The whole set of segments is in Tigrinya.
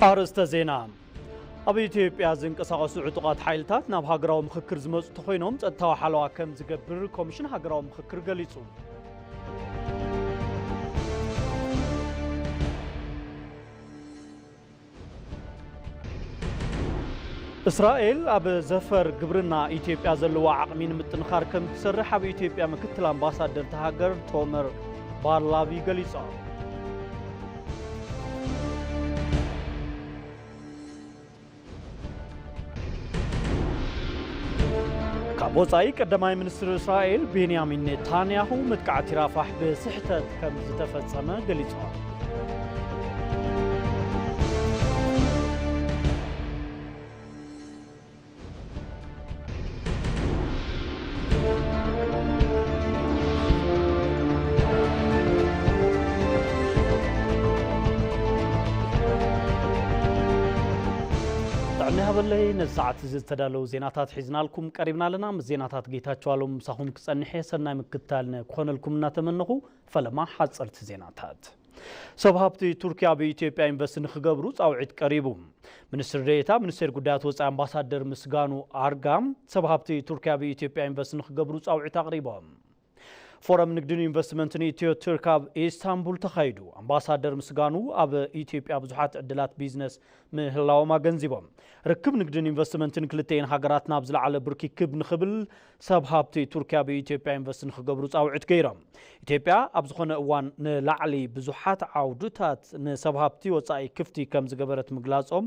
ኣርእስተ ዜና ኣብ ኢትዮጵያ ዝንቀሳቐሱ ዕጡቓት ሓይልታት ናብ ሃገራዊ ምክክር ዝመፁ ተኮይኖም ፀጥታዊ ሓለዋ ከም ዝገብር ኮሚሽን ሃገራዊ ምክክር ገሊፁ። እስራኤል ኣብ ዘፈር ግብርና ኢትዮጵያ ዘለዋ ዓቕሚ ንምጥንኻር ከም እትሰርሕ ኣብ ኢትዮጵያ ምክትል ኣምባሳደር እታ ሃገር ቶመር ባርላቪ ገሊጾም። ካብ ወፃኢ ቀዳማይ ሚኒስትር እስራኤል ቤንያሚን ኔታንያሁ መጥቃዕቲ ራፋሕ ብስሕተት ከም ዝተፈጸመ ገሊጾም። ጥዕና ይሃበለይ ነዚ ሰዓት እዚ ዝተዳለዉ ዜናታት ሒዝናልኩም ቀሪብና ኣለና ምስ ዜናታት ጌታቸው ኣሎም ምሳኹም ክጸንሕ እየ ሰናይ ምክትታል ክኾነልኩም እናተመነኹ ፈለማ ሓጸርቲ ዜናታት ሰብ ሃብቲ ቱርኪ ኣብ ኢትዮጵያ ኢንቨስት ንክገብሩ ፃውዒት ቀሪቡ። ሚኒስትር ዴኤታ ሚኒስቴር ጉዳያት ወፃኢ ኣምባሳደር ምስጋኑ ኣርጋ ሰብ ሃብቲ ቱርኪ ኣብ ኢትዮጵያ ኢንቨስት ንክገብሩ ፃውዒት ኣቕሪቦም። ፎረም ንግድን ኢንቨስትመንትን ኢትዮ ቱርክ ኣብ ኢስታንቡል ተኻይዱ። ኣምባሳደር ምስጋኑ ኣብ ኢትዮጵያ ብዙሓት ዕድላት ቢዝነስ ምህላዎም ኣገንዚቦም። ርክብ ንግድን ኢንቨስትመንትን ክልተኤን ሃገራት ናብ ዝለዓለ ብርኪ ክብ ንክብል ሰብ ሃብቲ ቱርኪ ኣብ ኢትዮጵያ ኢንቨስት ንክገብሩ ፃውዒት ገይሮም። ኢትዮጵያ ኣብ ዝኾነ እዋን ንላዕሊ ብዙሓት ዓውድታት ንሰብ ሃብቲ ወፃኢ ክፍቲ ከምዝገበረት ምግላፆም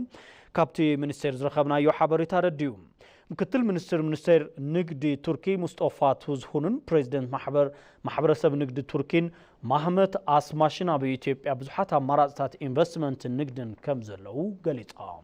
ካብቲ ሚኒስቴር ዝረኸብናዮ ሓበሬታ ኣረዲኡ። ምክትል ሚኒስትር ሚኒስቴር ንግዲ ቱርኪ ሙስጦፋ ቱዝሁንን ፕሬዚደንት ማሕበር ማሕበረሰብ ንግዲ ቱርኪን ማህመት ኣስማሽን ኣብ ኢትዮጵያ ብዙሓት ኣማራፅታት ኢንቨስትመንትን ንግድን ከምዘለዉ ገሊፆም።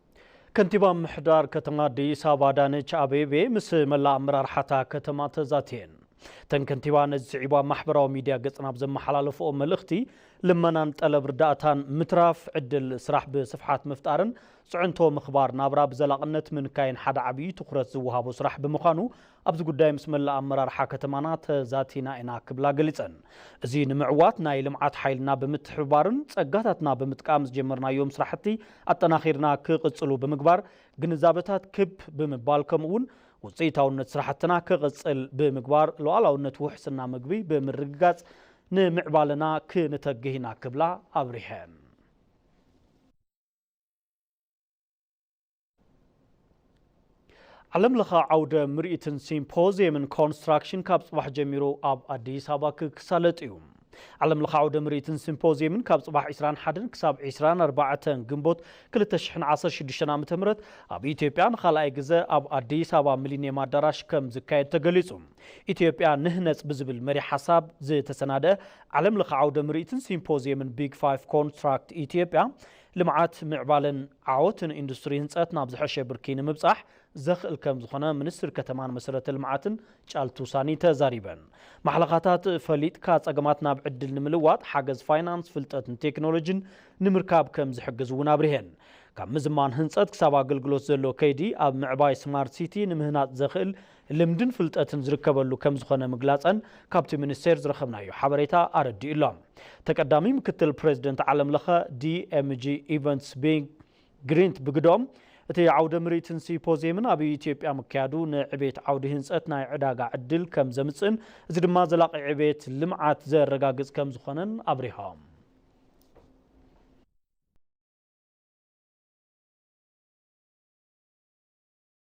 ከንቲባ ምምሕዳር ከተማ ኣዲስ ኣበባ ኣዳነች ኣቤቤ ምስ መላእ ኣመራርሓ'ታ ከተማ ተዛትየን። እተን ከንቲባ ነዚ ስዒቡ ኣብ ማሕበራዊ ሚድያ ገፀን ኣብ ዘመሓላለፍኦ መልእኽቲ፣ ልመናን ጠለብ ርዳእታን ምትራፍ፣ ዕድል ስራሕ ብስፍሓት ምፍጣርን ፅዕንቶ ምኽባር ናብራ ብዘላቕነት ምንካይን ሓደ ዓብዪ ትኹረት ዝወሃቦ ስራሕ ብምዃኑ ኣብዚ ጉዳይ ምስ መላእ ኣመራርሓ ከተማና ተዛቲና ኢና ክብላ ገሊፀን። እዚ ንምዕዋት ናይ ልምዓት ሓይልና ብምትሕብባርን ፀጋታትና ብምጥቃም ዝጀመርናዮም ስራሕቲ ኣጠናኺርና ክቕፅሉ ብምግባር ግንዛበታት ክብ ብምባል ከምኡ እውን ውፅኢታውነት ስራሕትና ክቕፅል ብምግባር ሉኣላውነት ውሕስና ምግቢ ብምርግጋፅ ንምዕባለና ክንተግህ ኢና ክብላ ኣብሪሀን። ዓለም ለኸ ዓውደ ምርኢትን ሲምፖዚየምን ኮንስትራክሽን ካብ ፅባሕ ጀሚሩ ኣብ ኣዲስ ኣበባ ክሳለጥ እዩ። ዓለም ለኸ ዓውደ ምርኢትን ሲምፖዚየምን ካብ ፅባሕ 21 ክሳብ 24 ግንቦት 2016 ዓ ም ኣብ ኢትዮጵያ ንካልኣይ ግዘ ኣብ ኣዲስ ኣበባ ሚሊኒየም ኣዳራሽ ከም ዝካየድ ተገሊፁ። ኢትዮጵያ ንህነፅ ብዝብል መሪ ሓሳብ ዝተሰናደአ ዓለም ለኸ ዓውደ ምርኢትን ሲምፖዚየምን ቢግ ፋይፍ ኮንትራክት ኢትዮጵያ ልምዓት፣ ምዕባለን ዓወትን ኢንዱስትሪ ህንፀት ናብ ዝሐሸ ብርኪ ንምብፃሕ ዘኽእል ከምዝኾነ ሚኒስትር ከተማን መሰረተ ልምዓትን ጫልቱ ሳኒ ተዛሪበን። ማሕለኻታት ፈሊጥካ ፀገማት ናብ ዕድል ንምልዋጥ ሓገዝ ፋይናንስ፣ ፍልጠትን ቴክኖሎጂን ንምርካብ ከምዝሕግዝ እውን ኣብሪሀን። ካብ ምዝማን ህንፀት ክሳብ ኣገልግሎት ዘሎ ከይዲ ኣብ ምዕባይ ስማርት ሲቲ ንምህናፅ ዘኽእል ልምድን ፍልጠትን ዝርከበሉ ከምዝኾነ ምግላፀን ካብቲ ሚኒስቴር ዝረኸብናዮ ሓበሬታ ኣረዲኡ ኣሎ። ተቀዳሚ ምክትል ፕሬዚደንት ዓለም ለኸ ዲኤምጂ ኢቨንትስ ቢንግ ግሪንት ብግደኦም፣ እቲ ዓውደ ምርኢትን ሲፖዚየምን ኣብ ኢትዮጵያ ምክያዱ ንዕቤት ዓውዲ ህንፀት ናይ ዕዳጋ ዕድል ከምዘምፅእን እዚ ድማ ዘላቒ ዕቤት ልምዓት ዘረጋግፅ ከምዝኾነን ኣብሪሆም።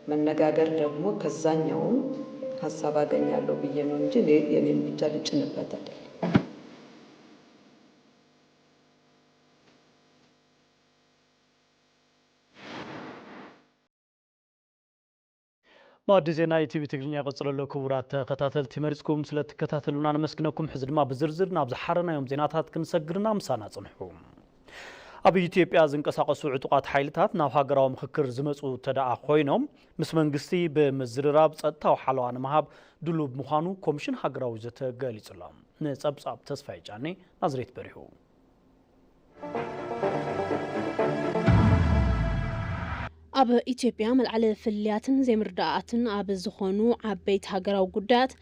መነጋገር ደግሞ ከዛኛውም ሀሳብ አገኛለሁ ብዬ ነው እንጂ እኔ የኔን ብቻ ልጭንበት አይደለም። ማእዲ ዜና ኢቲቪ ትግርኛ ይቕጽል ኣሎ። ክቡራት ተኸታተልቲ መሪጽኩም ስለ እትከታተሉና ነመስግነኩም። ሕዚ ድማ ብዝርዝር ናብ ዝሓረናዮም ዜናታት ክንሰግር ኢና። ምሳና ጽንሑ። ኣብ ኢትዮጵያ ዝንቀሳቐሱ ዕጡቓት ሓይልታት ናብ ሃገራዊ ምኽክር ዝመፁ እንተደኣ ኮይኖም ምስ መንግስቲ ብምዝርራብ ፀጥታዊ ሓለዋ ንምሃብ ድሉብ ምዃኑ ኮሚሽን ሃገራዊ ዘተ ገሊጹ ኣሎ። ንፀብፃብ ተስፋይ ጫኔ ናዝሬት በሪሁ ኣብ ኢትዮጵያ መልዓሊ ፍልልያትን ዘይምርዳኣትን ኣብ ዝኾኑ ዓበይቲ ሃገራዊ ጉዳያት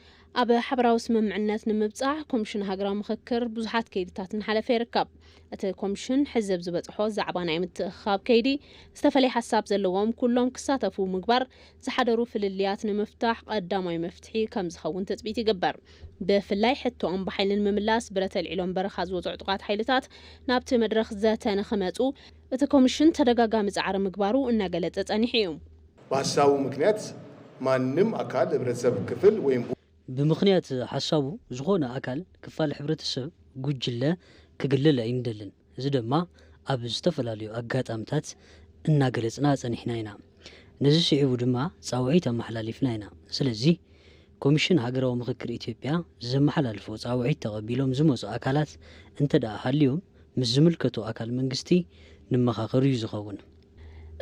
ኣብ ሓበራዊ ስምምዕነት ንምብጻሕ ኮምሽን ሃገራዊ ምኽክር ብዙሓት ከይድታት እናሓለፈ ይርከብ። እቲ ኮምሽን ሕዚ ኣብ ዝበጽሖ ዛዕባ ናይ ምትእኽኻብ ከይዲ ዝተፈለየ ሓሳብ ዘለዎም ኩሎም ክሳተፉ ምግባር ዝሓደሩ ፍልልያት ንምፍታሕ ቐዳማይ መፍትሒ ከምዝኸውን ትፅቢት ይግበር። ብፍላይ ሕቶኦም ብሓይሊ ንምምላስ ብረት ኣልዒሎም በረኻ ዝወጹ ዕጡቓት ሓይልታት ናብቲ መድረኽ ዘተ ንክመጹ እቲ ኮምሽን ተደጋጋሚ ፃዕሪ ምግባሩ እናገለፀ ፀኒሑ እዩ። ብሃሳቡ ምክንያት ማንም ኣካል ህብረተሰብ ክፍል ወይ። ብምክንያት ሃሳቡ ዝኾነ ኣካል ክፋል ሕብረተሰብ ጉጅለ ክግለል ኣይንደልን እዚ ደማ ኣብ ዝተፈላለዩ ኣጋጣምታት እናገለፅና ፀኒሕና ኢና ነዚ ስዒቡ ድማ ፃውዒት ኣመሓላሊፍና ኢና ስለዚ ኮሚሽን ሃገራዊ ምክክር ኢትዮጵያ ዘመሓላልፎ ፃውዒት ተቐቢሎም ዝመፁ ኣካላት እንተድኣ ሃልዮም ምስ ዝምልከቶ ኣካል መንግስቲ ንመኻኸር እዩ ዝኸውን።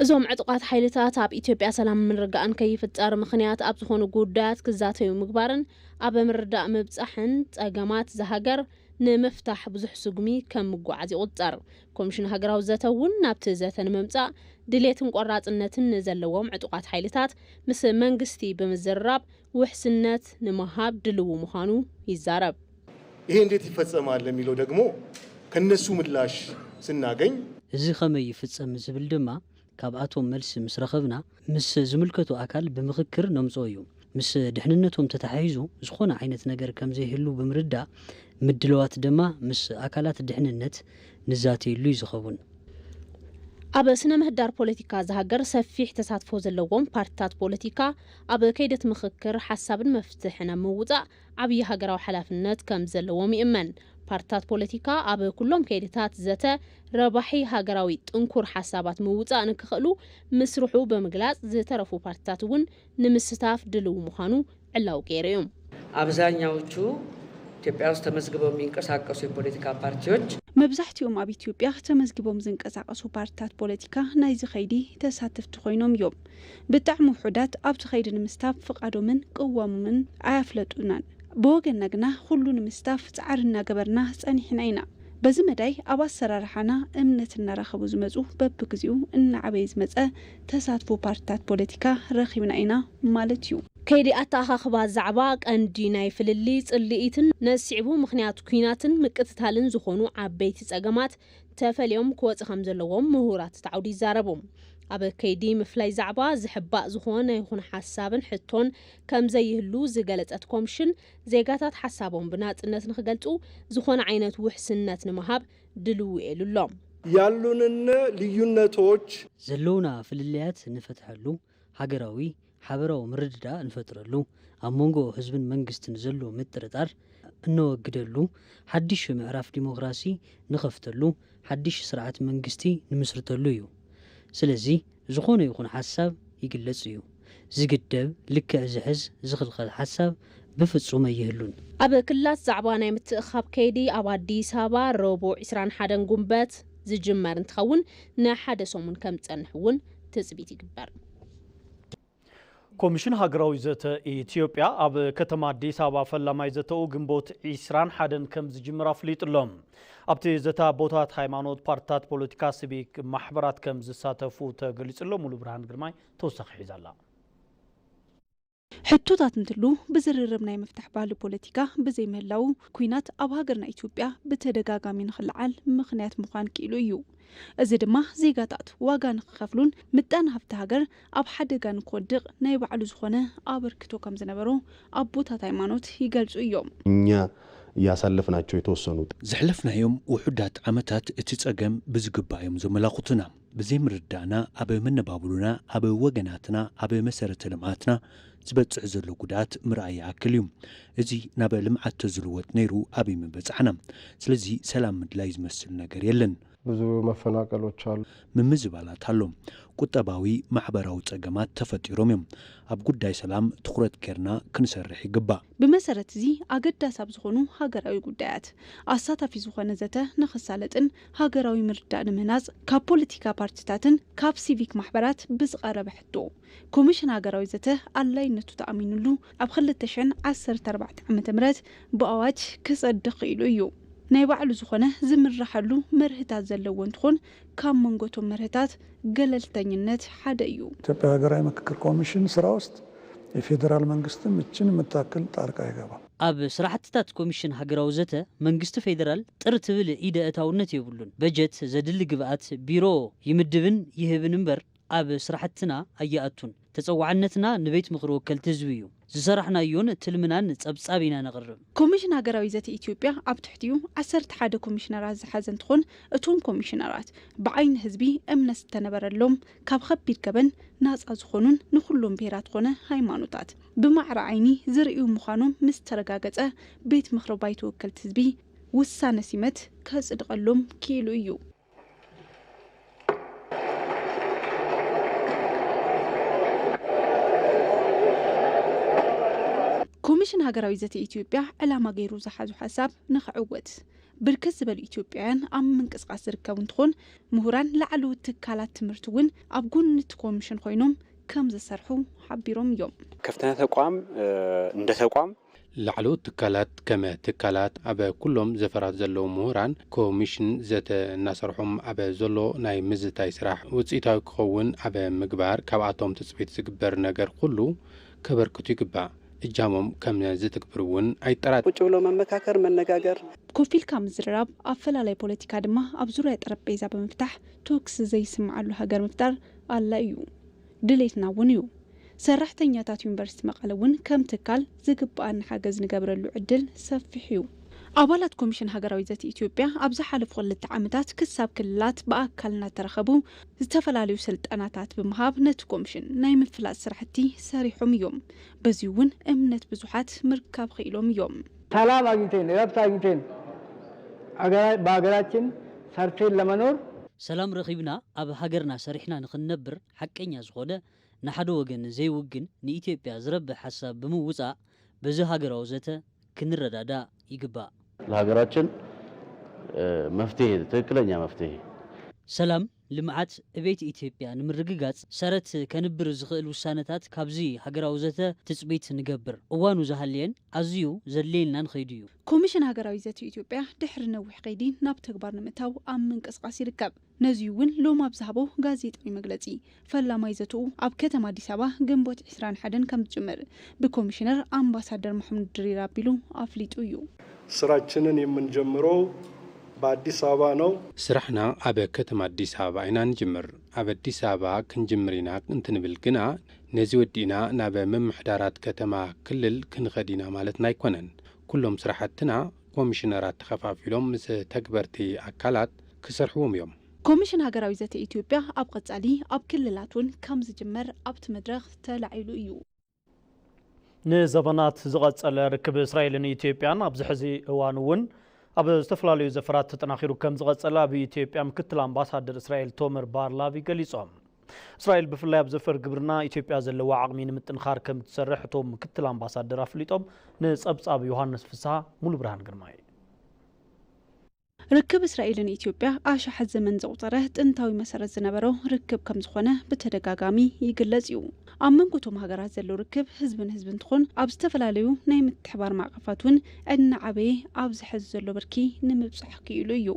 እዞም ዕጡቓት ሓይልታት ኣብ ኢትዮጵያ ሰላምን ምርግጋእን ከይፍጠር ምኽንያት ኣብ ዝኾኑ ጉዳያት ክዛተዩ ምግባርን ኣብ ምርዳእ ምብፃሕን ፀገማት እዛ ሃገር ንምፍታሕ ብዙሕ ስጉሚ ከም ምጉዓዝ ይቑፀር። ኮሚሽን ሃገራዊ ዘተ እውን ናብቲ ዘተ ንምምፃእ ድሌትን ቆራፅነትን ንዘለዎም ዕጡቓት ሓይልታት ምስ መንግስቲ ብምዝርራብ ውሕስነት ንምሃብ ድልዉ ምዃኑ ይዛረብ። ይሄ እንዴት ይፈጸማል ለሚለው ደግሞ ከነሱ ምላሽ ስናገኝ። እዚ ከመይ ይፍጸም ዝብል ድማ ካብኣቶም መልሲ ምስ ረኸብና ምስ ዝምልከቶ ኣካል ብምኽክር ነምጽኦ እዩ። ምስ ድሕንነቶም ተተሓሒዙ ዝኾነ ዓይነት ነገር ከምዘይህሉ ብምርዳእ ምድለዋት ድማ ምስ ኣካላት ድሕንነት ንዛተየሉ እዩ ዝኸውን። ኣብ ስነ ምህዳር ፖለቲካ እዛ ሃገር ሰፊሕ ተሳትፎ ዘለዎም ፓርቲታት ፖለቲካ፣ ኣብ ከይዲ እቲ ምኽክር ሓሳብን መፍትሕን ኣብ ምውፃእ ዓብዪ ሃገራዊ ሓላፍነት ከምዘለዎም ይእመን። ፓርቲታት ፖለቲካ ኣብ ኩሎም ከይዲታት ዘተ ረባሒ ሃገራዊ ጥንኩር ሓሳባት ምውፃእ ንክኽእሉ ምስርሑ ብምግላፅ ዝተረፉ ፓርቲታት እውን ንምስታፍ ድልው ምዃኑ ዕላዊ ገይሩ እዩ። ኣብዛኛዎቹ ኢትዮጵያ ውስጥ ተመዝግበው የሚንቀሳቀሱ የፖለቲካ ፓርቲዎች። መብዛሕቲኦም ኣብ ኢትዮጵያ ተመዝጊቦም ዝንቀሳቐሱ ፓርቲታት ፖለቲካ ናይዚ ከይዲ ተሳተፍቲ ኮይኖም እዮም። ብጣዕሚ ውሑዳት ኣብቲ ከይዲ ንምስታፍ ፍቃዶምን ቅዋሞምን ኣያፍለጡናን። ብወገንና ግና ኹሉ ንምስታፍ ፃዕሪ እናገበርና ፀኒሕና ኢና። በዚ መዳይ ኣብ ኣሰራርሓና እምነት እናረኸቡ ዝመፁ በብግዚኡ እናዓበየ ዝመፀ ተሳትፎ ፓርቲታት ፖለቲካ ረኺብና ኢና ማለት እዩ። ከይዲ ኣተኣኻኽባ ዛዕባ ቀንዲ ናይ ፍልልይ፣ ፅልኢትን ነዚ ስዒቡ ምኽንያት ኲናትን ምቅትታልን ዝኾኑ ዓበይቲ ፀገማት ተፈልዮም ክወጽ ከም ዘለዎም ምሁራት እቲ ዓውዲ ይዛረቡ። ኣብ ከይዲ ምፍላይ ዛዕባ ዝሕባእ ዝኾነ ይኹን ሓሳብን ሕቶን ከም ዘይህሉ ዝገለጸት ኮምሽን፣ ዜጋታት ሓሳቦም ብናጽነት ንክገልጹ ዝኾነ ዓይነት ውሕስነት ንምሃብ ድልው'የ ኢሉ ኣሎ። ያሉንነ ልዩነቶች። ዘለዉና ፍልልያት ንፈትሐሉ፣ ሃገራዊ ሓበራዊ ምርድዳእ እንፈጥረሉ፣ ኣብ መንጎ ህዝብን መንግስትን ዘሎ ምጥርጣር እነወግደሉ፣ ሓዲሽ ምዕራፍ ዲሞክራሲ ንኸፍተሉ፣ ሓዲሽ ስርዓት መንግስቲ ንምስርተሉ እዩ። ስለዚ ዝኾነ ይኹን ሓሳብ ይግለጽ እዩ። ዝግደብ፣ ልክዕ ዝሕዝ፣ ዝኽልኸል ሓሳብ ብፍጹም ኣይህሉን። ኣብ ክልላት ዛዕባ ናይ ምትእኽኻብ ከይዲ ኣብ ኣዲስ ኣበባ ረቡዕ ዕስራን ሓደን ጉንበት ዝጅመር እንትኸውን ንሓደ ሰሙን ከምዝፀንሕ እውን ትፅቢት ይግበር። ኮሚሽን ሃገራዊ ዘተ ኢትዮጵያ ኣብ ከተማ ኣዲስ ኣበባ ፈላማይ ዘተኡ ግንቦት ዒስራን ሓደን ከም ዝጅምር ኣፍሊጡ ኣሎ። ኣብቲ ዘተ ኣቦታት ሃይማኖት፣ ፓርትታት ፖለቲካ፣ ሲቪክ ማሕበራት ከም ዝሳተፉ ተገሊጹ ኣሎ። ሙሉ ብርሃን ግርማይ ተወሳኺ ሒዛ ኣላ። ሕቶታት እንትሉ ብዝርርብ ናይ ምፍታሕ ባህሊ ፖለቲካ ብዘይምህላዉ ኩናት ኣብ ሃገርና ኢትዮጵያ ብተደጋጋሚ ንክለዓል ምኽንያት ምዃን ክኢሉ እዩ። እዚ ድማ ዜጋታት ዋጋ ንክኸፍሉን ምጣነ ሃፍቲ ሃገር ኣብ ሓደጋ ንክወድቕ ናይ ባዕሉ ዝኾነ ኣበርክቶ ከም ዝነበሮ ኣቦታት ሃይማኖት ይገልጹ እዮም። እኛ ያሳለፍናቸው የተወሰኑ። ዘሕለፍናዮም ውሑዳት ዓመታት እቲ ጸገም ብዝግባእ እዮም ዘመላኹቱና። ብዘይምርድዳእና ኣብ መነባብሮና፣ ኣብ ወገናትና፣ ኣብ መሰረተ ልምዓትና ዝበፅሕ ዘሎ ጉድኣት ምርኣይ ይኣክል እዩ። እዚ ናብ ልምዓት ተዝልወጥ ነይሩ ኣበይ ምበፃሕና። ስለዚ ሰላም ምድላይ ዝመስል ነገር የለን። ብዙ መፈናቀሎች ኣሉ። ምምዝባላት ኣሎ። ቁጠባዊ፣ ማሕበራዊ ፀገማት ተፈጢሮም እዮም። ኣብ ጉዳይ ሰላም ትኹረት ገይርና ክንሰርሕ ይግባእ። ብመሰረት እዚ ኣገዳሲ ኣብ ዝኾኑ ሃገራዊ ጉዳያት ኣሳታፊ ዝኾነ ዘተ ንኽሳለጥን ሃገራዊ ምርዳእ ንምህናጽ ካብ ፖለቲካ ፓርቲታትን ካብ ሲቪክ ማሕበራት ብዝቐረበ ሕቶ፣ ኮሚሽን ሃገራዊ ዘተ ኣድላይነቱ ተኣሚኑሉ ኣብ ክልተ ሽሕን ዓሰርተ ኣርባዕተን ዓመተ ምህረት ብኣዋጅ ክጸድቕ ክኢሉ እዩ። ናይ ባዕሉ ዝኾነ ዝምረሓሉ መርህታት ዘለዎ እንትኾን ካብ መንጎ እቶም መርህታት ገለልተኝነት ሓደ እዩ። ኢትዮጵያ ሃገራዊ ምክክር ኮሚሽን ስራ ውስጥ የፌደራል መንግስትን ምችን የምታክል ጣልቃ ኣይገባም። ኣብ ስራሕትታት ኮሚሽን ሃገራዊ ዘተ መንግስቲ ፌዴራል ጥር ትብል ኢደ እታውነት የብሉን። በጀት ዘድሊ ግብኣት ቢሮ ይምድብን ይህብን እምበር ኣብ ስራሕትና ኣይኣቱን። ተፀዋዕነትና ንቤት ምኽሪ ወከልቲ ህዝቢ እዩ። ዝሰራሕናዮን ትልምናን ፀብፃብ ኢና ነቕርብ። ኮሚሽን ሃገራዊ ዘተ ኢትዮጵያ ኣብ ትሕቲኡ ዓሰርተ ሓደ ኮሚሽነራት ዝሓዘ እንትኾን እቶም ኮሚሽነራት ብዓይኒ ህዝቢ እምነት ዝተነበረሎም፣ ካብ ኸቢድ ገበን ናፃ ዝኾኑን ንኹሎም ብሄራት ኾነ ሃይማኖታት፣ ብማዕረ ዓይኒ ዝርእዩ ምዃኖም ምስ ተረጋገፀ ቤት ምኽሪ ባይቶ ወከልቲ ህዝቢ ውሳነ ሲመት ከፅድቐሎም ክኢሉ እዩ። ኮሚሽን ሃገራዊ ዘተ ኢትዮጵያ ዕላማ ገይሩ ዝሓዞ ሓሳብ ንክዕወት ብርክት ዝበሉ ኢትዮጵያውያን ኣብ ምንቅስቓስ ዝርከቡ እንትኾን ምሁራን ላዕለዎት ትካላት ትምህርቲ እውን ኣብ ጎኒ እቲ ኮሚሽን ኾይኖም ከምዝሰርሑ ሓቢሮም እዮም። ክፍትነ ተቋም እንደ ተቋም። ላዕለዎት ትካላት ከመ ትካላት ኣብ ኩሎም ዘፈራት ዘለዉ ምሁራን ኮሚሽን ዘተ እናሰርሖም ኣብ ዘሎ ናይ ምዝታይ ስራሕ ውፅኢታዊ ክኸውን ኣብ ምግባር ካብኣቶም ትፅቢት ዝግበር ነገር ኹሉ ከበርክቱ ይግባእ። እጃሞም ከመ ዝትግብሩ እውን ኣይጠራጠርን። ቁጭ ብሎ መመካከር፣ መነጋገር። ኮፍ ኢልካ ምዝርራብ፣ ኣፈላላይ ፖለቲካ ድማ ኣብ ዙርያ ጠረጴዛ ብምፍታሕ ቶክስ ዘይስምዓሉ ሃገር ምፍጣር ኣላ እዩ ድሌትና እውን እዩ። ሰራሕተኛታት ዩኒቨርሲቲ መቐለ እውን ከም ትካል ዝግበኣና ሓገዝ ንገብረሉ ዕድል ሰፊሕ እዩ። ኣባላት ኮሚሽን ሃገራዊ ዘተ ኢትዮጵያ ኣብ ዝሓለፉ ክልተ ዓመታት ክሳብ ክልላት ብኣካል እናተረኸቡ ዝተፈላለዩ ስልጠናታት ብምሃብ ነቲ ኮሚሽን ናይ ምፍላጥ ስራሕቲ ሰሪሖም እዮም። በዙይ እውን እምነት ብዙሓት ምርካብ ክኢሎም እዮም። ሰላም ኣግኝተን እረፍት ኣግኝተን ብሃገራችን ሰርተን ለመኖር። ሰላም ረኺብና ኣብ ሃገርና ሰሪሕና ንኽንነብር ሓቀኛ ዝኾነ ንሓደ ወገን ዘይውግን ንኢትዮጵያ ዝረብሕ ሓሳብ ብምውፃእ በዚ ሃገራዊ ዘተ ክንረዳዳእ ይግባእ። ለሃገራችን መፍትሔ ትክክለኛ መፍትሔ። ሰላም ልምዓት ዕቤት ኢትዮጵያ ንምርግጋፅ ሰረት ከንብር ዝኽእል ውሳነታት ካብዚ ሃገራዊ ዘተ ትፅቢት ንገብር። እዋኑ ዝሃለየን ኣዝዩ ዘድልየናን ኸይዱ እዩ። ኮሚሽን ሃገራዊ ዘተ ኢትዮጵያ ድሕሪ ነዊሕ ኸይዲ ናብ ተግባር ንምእታው ኣብ ምንቅስቓስ ይርከብ። ነዙይ እውን ሎሚ ኣብ ዝሃቦ ጋዜጣዊ መግለፂ ፈላማይ ዘትኡ ኣብ ከተማ ኣዲስ ኣበባ ግንቦት ዕስራን ሓደን ከምዝጅምር ብኮሚሽነር ኣምባሳደር ማሕሙድ ድሪር ኣቢሉ ኣፍሊጡ እዩ። ስራችንን የምንጀምረው በኣዲስ ኣበባ ነው። ስራሕና ኣብ ከተማ ኣዲስ ኣበባ ኢና ንጅምር። ኣብ ኣዲስ ኣበባ ክንጅምር ኢና እንትንብል ግና ነዚ ወዲእና ናብ ምምሕዳራት ከተማ፣ ክልል ክንኸድ ኢና ማለትና ኣይኮነን። ኩሎም ስራሕትና ኮሚሽነራት ተኸፋፊሎም ምስ ተግበርቲ ኣካላት ክሰርሕዎም እዮም። ኮሚሽን ሃገራዊ ዘተ ኢትዮጵያ ኣብ ቐፃሊ ኣብ ክልላት እውን ከምዝጅመር ኣብቲ መድረኽ ተላዒሉ እዩ። ንዘበናት ዝቐጸለ ርክብ እስራኤልን ኢትዮጵያን ኣብዚ ሕዚ እዋን እውን ኣብ ዝተፈላለዩ ዘፈራት ተጠናኺሩ ከም ዝቐጸለ ኣብ ኢትዮጵያ ምክትል ኣምባሳደር እስራኤል ቶመር ባርላቪ ገሊጾም። እስራኤል ብፍላይ ኣብ ዘፈር ግብርና ኢትዮጵያ ዘለዋ ዓቕሚ ንምጥንኻር ከም እትሰርሕ እቶም ምክትል ኣምባሳደር ኣፍሊጦም። ንጸብጻብ ዮሃንስ ፍስሃ ሙሉ ብርሃን ግርማይ ርክብ እስራኤልን ኢትዮጵያ ኣሻሓት ዘመን ዘቑፀረ ጥንታዊ መሰረት ዝነበሮ ርክብ ከምዝኾነ ብተደጋጋሚ ይግለፅ እዩ። ኣብ መንጎ እቶም ሃገራት ዘሎ ርክብ ህዝቢ ንህዝቢ እንትኾን ኣብ ዝተፈላለዩ ናይ ምትሕባር ማዕቐፋት እውን እናዓበየ ኣብዚ ሐዚ ዘሎ ብርኪ ንምብፃሕ ክኢሉ እዩ።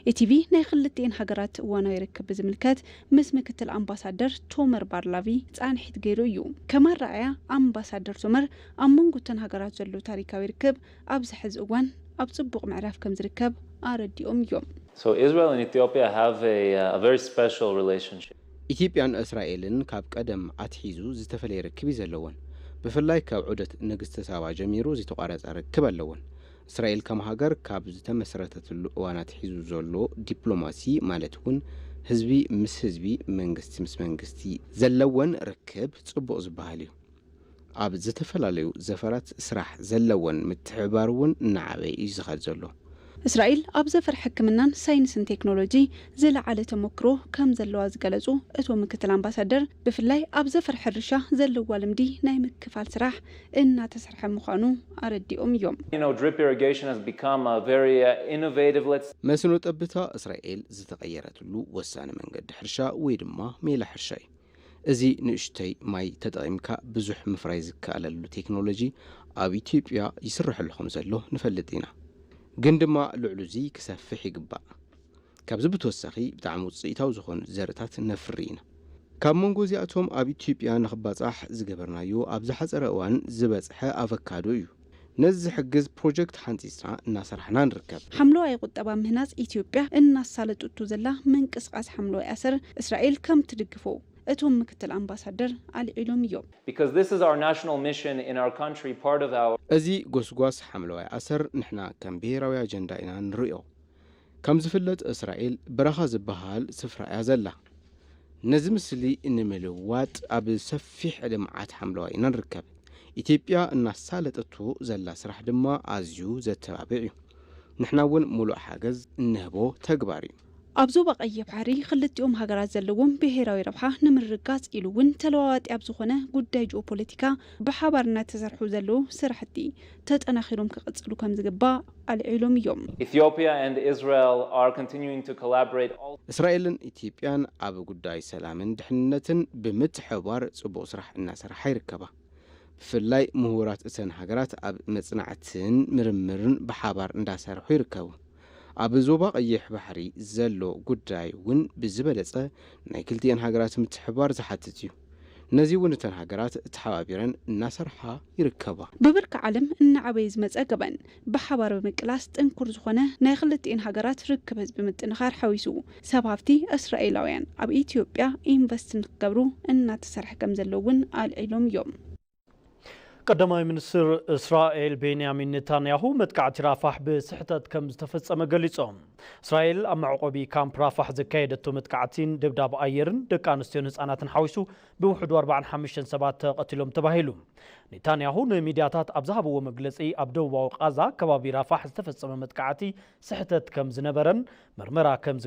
etv ናይ ኽልቲኤን ሃገራት እዋናዊ ርክብ ብዝምልከት ምስ ምክትል ኣምባሳደር ቶመር ባርላቪ ፃንሒት ገይሩ እዩ። ከም ኣረኣእያ ኣምባሳደር ቶመር ኣብ መንጎ እተን ሃገራት ዘሎ ታሪካዊ ርክብ ኣብዚ ሕዚ እዋን ኣብ ፅቡቕ ምዕራፍ ከምዝርከብ ኣረዲኦም እዮም። ኢትዮጵያን እስራኤልን ካብ ቀደም ኣትሒዙ ዝተፈለየ ርክብ እዩ ዘለወን። ብፍላይ ካብ ዑደት ንግስቲ ሳባ ጀሚሩ ዘይተቋረፀ ርክብ ኣለወን። እስራኤል ከም ሃገር ካብ ዝተመስረተትሉ እዋን ኣትሒዙ ዘሎ ዲፕሎማሲ ማለት እውን ህዝቢ ምስ ህዝቢ፣ መንግስቲ ምስ መንግስቲ ዘለወን ርክብ ፅቡቕ ዝበሃል እዩ። ኣብ ዝተፈላለዩ ዘፈራት ስራሕ ዘለወን ምትሕብባር እውን እናዓበየ እዩ ዝኸድ ዘሎ። እስራኤል ኣብ ዘፈር ሕክምናን ሳይንስን ቴክኖሎጂ ዝለዓለ ተሞክሮ ከም ዘለዋ ዝገለፁ እቶም ምክትል ኣምባሳደር፣ ብፍላይ ኣብ ዘፈር ሕርሻ ዘለዋ ልምዲ ናይ ምክፋል ስራሕ እናተሰርሐ ምዃኑ ኣረዲኦም እዮም። መስኖ ጠብታ እስራኤል ዝተቐየረትሉ ወሳኒ መንገዲ ሕርሻ ወይ ድማ ሜላ ሕርሻ እዩ። እዚ ንእሽቶይ ማይ ተጠቒምካ ብዙሕ ምፍራይ ዝከኣለሉ ቴክኖሎጂ ኣብ ኢትዮጵያ ይስረሐሉ ከምዘሎ ንፈልጥ ኢና። ግን ድማ ልዕሉ'ዚ ክሰፍሕ ይግባእ። ካብዚ ብተወሳኺ ብጣዕሚ ውፅኢታዊ ዝኾኑ ዘርእታት ነፍሪ ኢና። ካብ መንጎ እዚኣቶም ኣብ ኢትዮጵያ ንኽባፃሕ ዝገበርናዮ ኣብ ዝሓፀረ እዋን ዝበፅሐ ኣቨካዶ እዩ። ነዚ ዝሕግዝ ፕሮጀክት ሓንፂፅና እናሰራሕና ንርከብ። ሓምለዋይ ቁጠባ ምህናፅ ኢትዮጵያ እናሳለጡቱ ዘላ ምንቅስቓስ ሓምለዋይ ኣሰር እስራኤል ከምትድግፎ እቶም ምክትል ኣምባሳደር ኣልዒሎም እዮም። Because this is our national mission in our country, part of our. እዚ ጎስጓስ ሓምለዋይ ኣሰር ንሕና ከም ብሄራዊ ኣጀንዳ ኢና ንርእዮ። ከም ዝፍለጥ እስራኤል በረኻ ዝበሃል ስፍራ እያ ዘላ። ነዚ ምስሊ ንምልዋጥ ኣብ ሰፊሕ ልምዓት ሓምለዋይ ኢና ንርከብ። ኢትዮጵያ እናሳለጠቶ ዘላ ስራሕ ድማ ኣዝዩ ዘተባብዕ እዩ። ንሕና እውን ሙሉእ ሓገዝ እንህቦ ተግባር እዩ። ኣብ ዞባ ቀይሕ ባሕሪ ክልቲኦም ሃገራት ዘለዎም ብሄራዊ ረብሓ ንምርግጋፅ ኢሉ እውን ተለዋዋጢ ኣብ ዝኾነ ጉዳይ ጂኦፖለቲካ ብሓባር እናተሰርሑ ዘለዉ ስራሕቲ ተጠናኺሮም ክቕፅሉ ከምዝግባእ ኣልዒሎም እዮም። Ethiopia and Israel are continuing to collaborate also. እስራኤልን ኢትዮጵያን ኣብ ጉዳይ ሰላምን ድሕንነትን ብምትሕብባር ፅቡቕ ስራሕ እናሰራሓ ይርከባ። ብፍላይ ሙሁራት እተን ሃገራት ኣብ መፅናዕትን ምርምርን ብሓባር እንዳሰርሑ ይርከቡ። ኣብ ዞባ ቀይሕ ባሕሪ ዘሎ ጉዳይ እውን ብዝበለፀ ናይ ክልቲኤን ሃገራት ምትሕብባር ዝሓትት እዩ። ነዚ እውን እተን ሃገራት ተሓባቢረን እናሰርሓ ይርከባ። ብብርኪ ዓለም እናዓበየ ዝመፀ ገበን ብሓባር ብምቅላስ ጥንኩር ዝኾነ ናይ ኽልቲኤን ሃገራት ርክብ ህዝቢ ምጥንኻር ሓዊሱ ሰብ ሃፍቲ እስራኤላውያን ኣብ ኢትዮጵያ ኢንቨስት ንክገብሩ እናተሰርሐ ከምዘሎ እውን ኣልዒሎም እዮም። ቀዳማይ ሚኒስትር እስራኤል ቤንያሚን ኔታንያሁ መጥቃዕቲ ራፋሕ ብስሕተት ከም ዝተፈጸመ ገሊጾም። እስራኤል ኣብ መዕቆቢ ካምፕ ራፋሕ ዘካየደቶ መጥቃዕቲን ደብዳብ ኣየርን ደቂ ኣንስትዮን ህጻናትን ሓዊሱ ብውሕዱ 45 ሰባት ተቐቲሎም ተባሂሉ። ኔታንያሁ ንሚድያታት ኣብ ዝሃብዎ መግለጺ ኣብ ደቡባዊ ቓዛ ከባቢ ራፋሕ ዝተፈጸመ መጥቃዕቲ ስሕተት ከም ዝነበረን መርመራ ከም